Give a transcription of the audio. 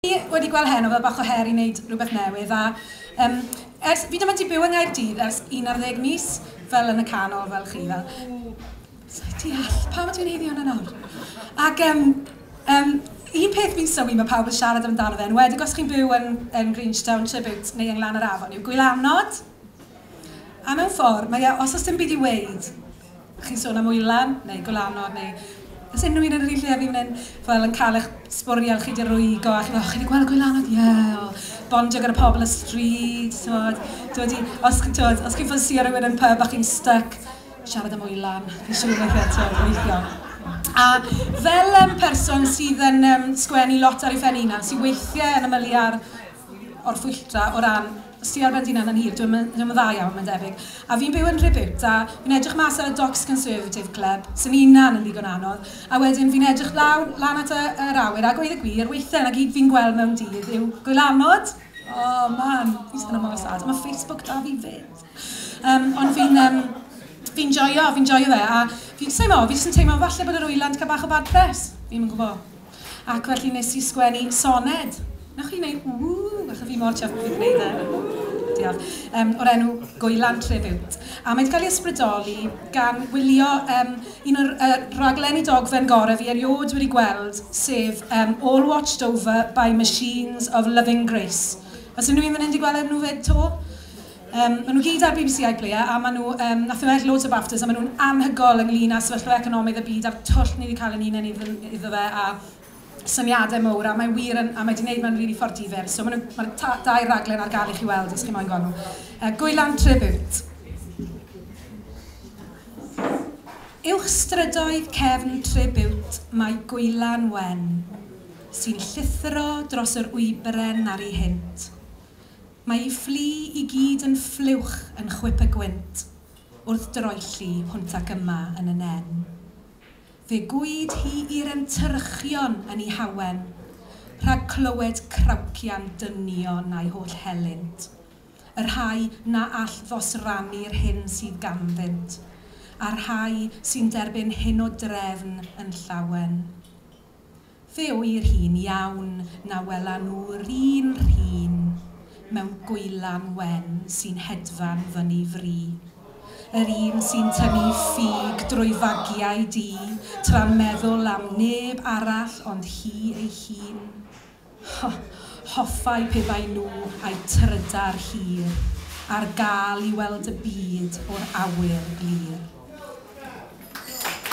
Fi wedi gweld heno fel bach o her i wneud rhywbeth newydd a yym ers... fi ddim wedi byw yng Nghaerdydd ers un ar ddeg mis fel yn y canol fel chi fel sa i'n deall pam ydw i'n heiddi hwnna nawr? Ac yym yym un peth fi'n sylwi mae pawb yn siarad amdano fe yn enwedig os chi'n byw yn yn Grangetown, Tribute neu yng Nglan yr Afon yw gwylanod a mewn ffordd mae e os oes dim byd i weud Chi'n sôn am wylan, neu gwlanog, neu os unrhyw un yn yr un lle â fi fan hyn, fel yn cael eich sbwriel chi 'di rwygo a chi'n meddwl, chi 'di gweld gwylanod? Ie! O, bondio gyda pobl y stryd, timod, dod i... os chi, timod, os chi'n ffansïo rhywun yn pub a chi'n styc, siarad am wylan, fi'n siŵr wneith e, timod, weithio. A fel yym person sydd yn yym sgwennu lot ar ei phen ei hunan, sy weithiau yn ymylu ar orffwylltra o ran... Sir Bendinas yn hir, dio'm yn dda iawn mae'n debyg. A fi'n byw yn Rhiwbwt a fi'n edrych mas ar y Docks Conservative Club, sy'n hunan yn ddigon anodd, a wedyn fi'n edrych lawr lan at yr awyr a gweud y gwir, weithiau 'na gyd fi'n gweld mewn dydd yw gwylanod! O man, fi'n teimlo mor sad, ma' Facebook 'da fi 'fyd! Yym ond fi'n yym fi'n joio, fi'n joio fe a fi jyst teimlo, fi jyst yn teimlo falle bod yr wylan 'di cael bach o bad press, fi'm yn gwybod. Ac felly nes i sgwennu soned. Newch chi wneud ww achos fi mor chuffed bo fi 'di neud e. Ww! Diolch. Yym o'r enw Gwylan Tribute. A mae 'di cael ei ysbrydoli gan wylio yym un o'r yy rhaglenni dogfen gorau fi erioed wedi gweld, sef yym All Watched Over by Machines of Loving Grace. Oes unrhyw un fan hyn 'di gweld e nhw 'fyd 'to? Yym, maen nhw gyd ar bbc iPlayer a maen nhw yym, wnaethon nhw ennill loads o Baftas a maen nhw'n anhygoel ynglŷn â sefyllfa economaidd y byd a'r twll ni 'di cael ein hunain idd- iddo fe a syniadau mawr a mae wir yn... a mae 'di wneud mewn rili ffordd difyr. So maen nhw... mae'r ta- dau raglen ar gael i chi weld os chi moyn gweld nhw. Yy Gwylan Tribute. Uwch strydoedd cefn Tribute mae Gwylan Wen sy'n llithro dros yr wybren ar ei hynt. Mae ei fflu i gyd yn ffliwch yn chwip y gwynt wrth droelli hwnt ac yma yn y nen. Fe gwyd hi i'r entyrchion yn ei hawen rhag clywed crawcian dynion a'i holl helynt, y rhai na all ddosrannu'r hyn sydd ganddynt, a'r rhai sy'n derbyn hyn o drefn yn llawen. Fe ŵyr hi'n iawn na wela nhw'r un rhin mewn gwylan wen sy'n hedfan fyny fri. Yr un sy'n tynnu ffug drwy fagiau du tra'n meddwl am neb arall ond hi ei hun. Ho! Hoffai pe bai nhw a'u trydar hir ar gael i weld y byd o'r awyr glir.